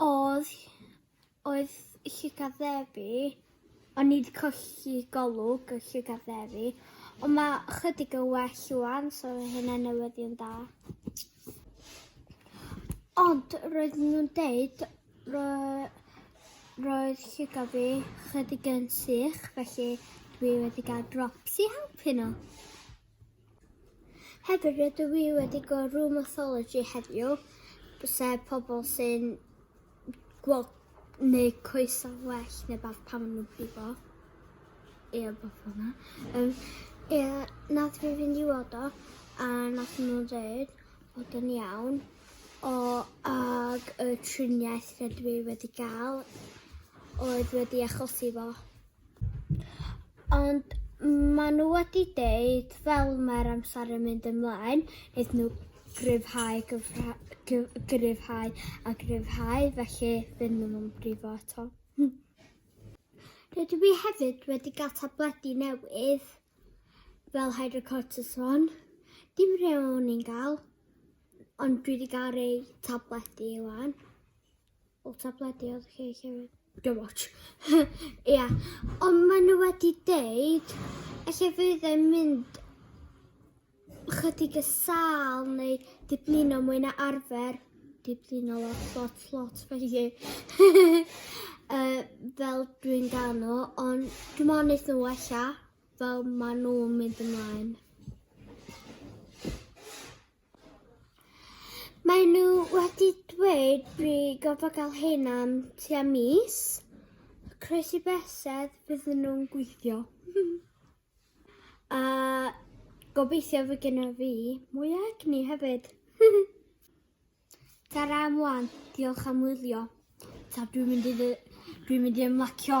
Oedd, oedd llygad ddefi, o'n i wedi colli golwg y llygad ddefi, ond mae chydig yn well wan, so mae hynna'n newyddion da. Ond roedd nhw'n deud, ro, roedd llygad fi chydig yn sych, felly dwi wedi gael drops i helpu nhw. Hefyd rydw i wedi gweld rheumatology heddiw, sef pobl sy'n gweld neu coesau well neu beth pan maen nhw'n pigo. Ie, beth fyna. Um, ie, nath fi fynd i weld o, a nath nhw dweud bod yn iawn. O, ag y triniaeth rydw i wedi gael oedd wedi achosi fo. Ond maen nhw wedi deud, fel mae'r amser yn mynd ymlaen, wnaeth nhw gryfhau, gryfhau a gryfhau, felly ddim yn nhw'n brifo eto. Rydw i hefyd wedi cael tabledi newydd, fel hydrocortisone. Dim rhew o'n i'n gael, ond dwi wedi cael rei tabledi iwan. O tablediodd chi hefyd. Don't watch. Ia. Ond maen nhw wedi deud, efallai fydd e'n mynd chydig y sal neu diblino mwy na arfer. Diblino lot, lot, lot, felly si. uh, fel dwi'n gael nhw, ond dwi'n mwyn eith nhw wella fel maen nhw'n mynd ymlaen. Mae nhw wedi dweud fi goffa gael hyn am tua mis. Croesi besedd bydd nhw'n gweithio. A gobeithio fy gyda fi mwy o egni hefyd. Tara am wan, diolch am wylio. Ta dwi'n mynd i, dwi mynd i ymlacio.